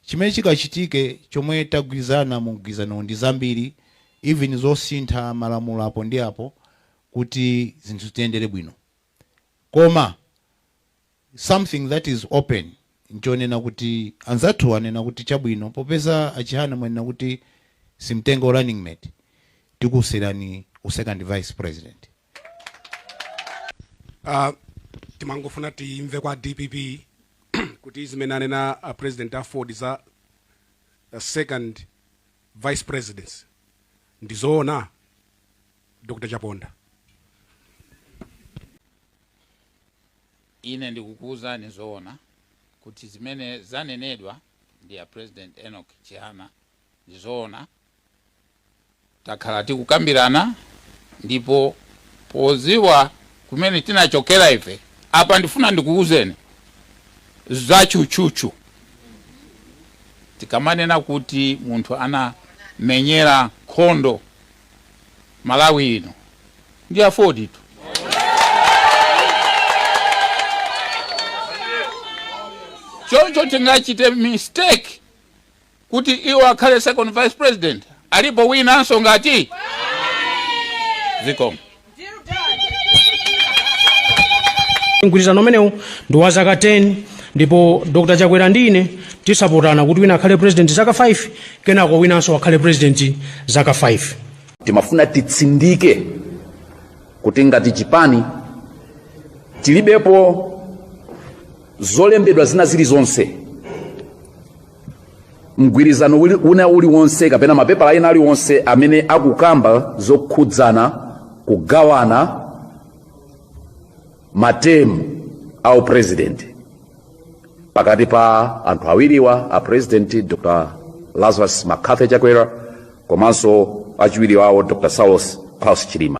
Chimene chikachitike chomwe tagwirizana mu mgwirizanowu ndi zambiri even zosintha malamulo apo ndi apo kuti zinthu zitiyendere bwino. Koma something that is open nchonena kuti anzathu anena kuti chabwino popeza a Chihana mwanena kuti simtenga u runningmate tikusiyirani u second vice president. uh, timangofuna timve kwa dpp kuti zimene anena a president aford za uh, second vice president ndizoona dr chaponda ine ndikukuwuzani zoona kuti zimene zanenedwa ndi a president enoch chihana Ndi zoona takhala tikukambirana ndipo podziwa kumene tinachokera ife, apa ndifuna ndikuuzeni za tchutchutchu. Tikamanena kuti munthu anamenyera nkhondo Malawi ino ndi AFORD tu. Choncho tingachite mistake. kuti iwo akhale second vice president alipo winanso ngati zikomo mgwirizano umenewu ndi wa zaka 10 ndipo dr chakwera ndi ine tizapatsana kuti wina akhale president zaka 5 kenako winanso akhale president zaka 5 timafuna titsindike kuti ngati chipani tilibepo zolembedwa zina zilizonse mgwirizano wina uliwonse kapena mapepala ena aliwonse amene akukamba zokhudzana kugawana matemu a upresident pakati pa anthu awiriwa a president dr lazarus mccarthy chakwera komanso achiwiri wawo dr saulos klaus chilima